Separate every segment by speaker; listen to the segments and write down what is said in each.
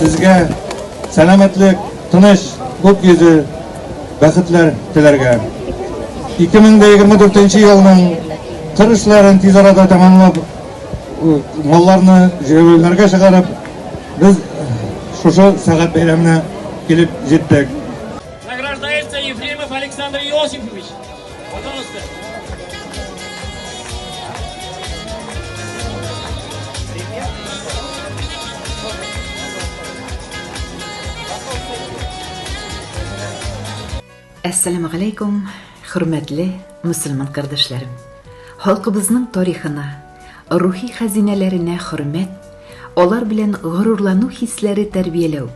Speaker 1: Сезгә сәламәтлек, тыныч, күк йөзе, бәхетләр теләргә. 2024 елның кыр эшләрен тиз арада тәмамлап, малларны җәйләүләргә чыгарып, без шушы сәгать бәйрәменә килеп җиттек. Награждается
Speaker 2: Ефремов Александр Иосифович.
Speaker 3: Әссәламү галәйкүм, хөрмәтле мусульман кардәшләрем. Халкыбызның тарихына, рухи хәзинәләренә хөрмәт, алар белән горурлану хисләре тәрбияләү,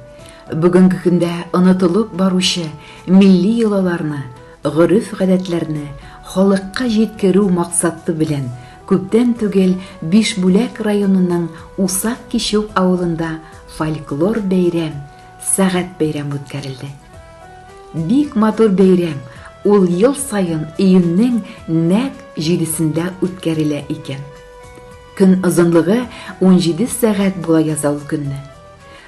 Speaker 3: бүгенге көндә онытылып баручы милли йолаларны Гореф-гадәтләрне халыкка җиткерү максаты белән күптән түгел Бишбүләк районының Усак Кичүк авылында фольклор бәйрәм, Сәгать бәйрәм үткәрелде. Бик матур бәйрәм, ул ел саен июньнең нәкъ җидесендә үткәрелә икән. Көн озынлыгы унҗиде сәгать була яза ул көнне.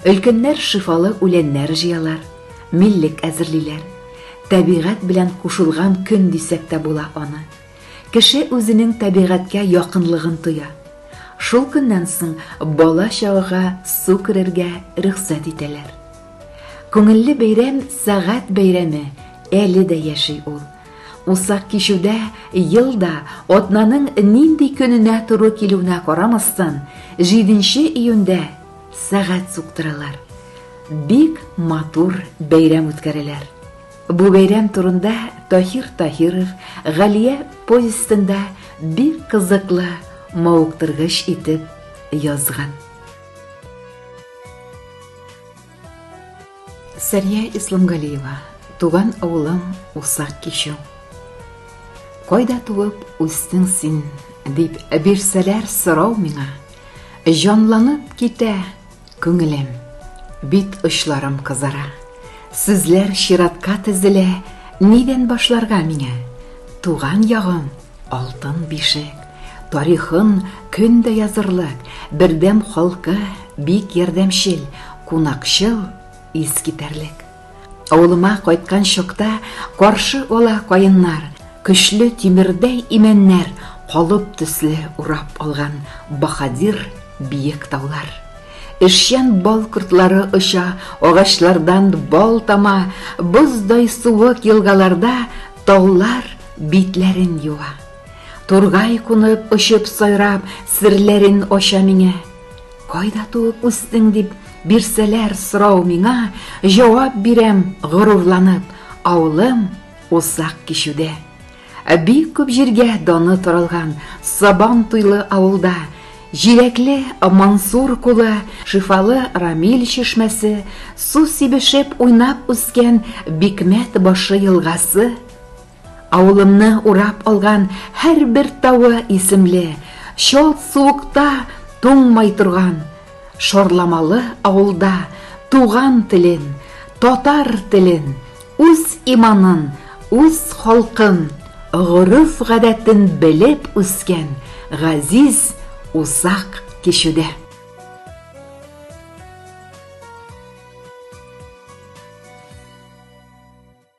Speaker 3: Өлкәннәр шифалы үләннәр җыялар, миллек әзерлиләр. Табигать белән кушылган көн дисәк тә була аны. Кеше үзенең табигатькә якынлыгын тоя. Шул көннән соң бала чагага су керергә рөхсәт итәләр. Күңелле бәйрәм сәгать бәйрәме әле дә яши ул. Усак кичүдә ел да атнаның нинди көненә туры килүенә карамастан, 7 нче июньдә Сәгать суктыралар. Бик матур бәйрәм үткәрәләр. Бу бәйрәм турында Тахир Тахиров Галия повестында бик кызыклы, мавыктыргыч итеп язган. Сәрия Исламгалиева, туган авылым Усак кичү. Кайда туып үстең син, дип бирсәләр сорау миңа, Җанланып китә күңелем, бит очларым кызара. Сүзләр чиратка тезелә, нидән башларга миңа? Туган ягым, алтын бишек, тарихын көн дә язырлык, бердәм халкы, бик ярдәмчел, кунакчыл, искитәрлек. Авылыма кайткан чакта Каршы ала каеннар, Көчле тимердәй имәннәр, Калып төсле урап алган Баһадир биек таулар. Эшчән бал кортлары оча, Агачлардан бал тама, Боздай суык елгаларда Таулар битләрен юа. Тургай кунып, очып-сайрап, Серләрен ача миңа. Кайда туып үстең дип бирсәләр сорау миңа, җавап бирәм горурланып, авылым Усак кичүдә. Бик күп җиргә даны таралган Сабан туйлы авылда җиләкле Мансур кулы, шифалы Рамил чишмәсе, су сибешеп уйнап үскән Бикмәт башы елгасы, Авылымны урап алган һәрбер тавы исемле, чалт суыкта туңмай торган Шорламалы авылда туган телен, татар телен, үз иманын, үз халкын, гореф-гадәтен белеп үскән Газиз озак кичүдә.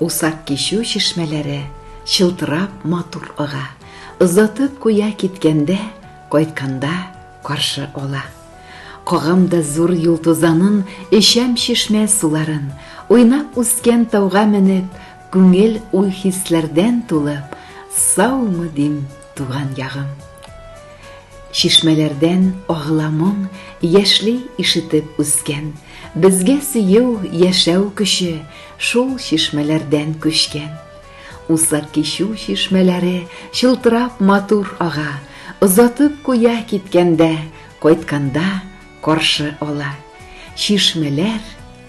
Speaker 3: Усак кичү чишмәләре чылтырап матур ага, озатып куя киткәндә, кайтканда каршы ала. Кагам да зур юл тузанын, эчәм чишмә суларын, уйнап үскән тауга менеп, күңел уй-хисләрдән тулып, саумы дим, Туган ягым. Чишмәләрдән агыла моң, яшьли ишетеп үскән. Безгә сөю, яшәү көче, шул чишмәләрдән күчкән. Усак кичү чишмәләре чылтырап матур ага, озатып куя киткәндә, кайтканда каршы ала. Чишмәләр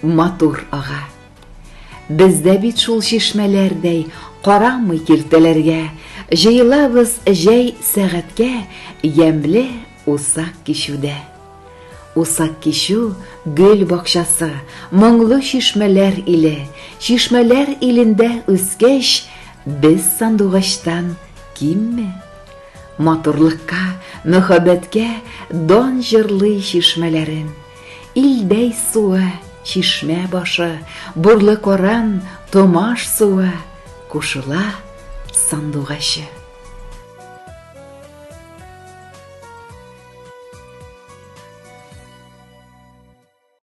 Speaker 3: матур ага. Без дә бит шул чишмәләрдәй, карамый киртәләргә, җыелабыз җәй сәгатькә ямьле усак кичүдә. Усак кичү гөл бакчасы, моңлы чишмәләр иле, чишмәләр илендә үскәч, без сандугачтан кимме? Матурлыкка, мөхәббәткә дан җырлый чишмәләрем. Илдәй суы, чишмә башы, Бурлы Коран, Томаш суы, Кушыла сандугачы.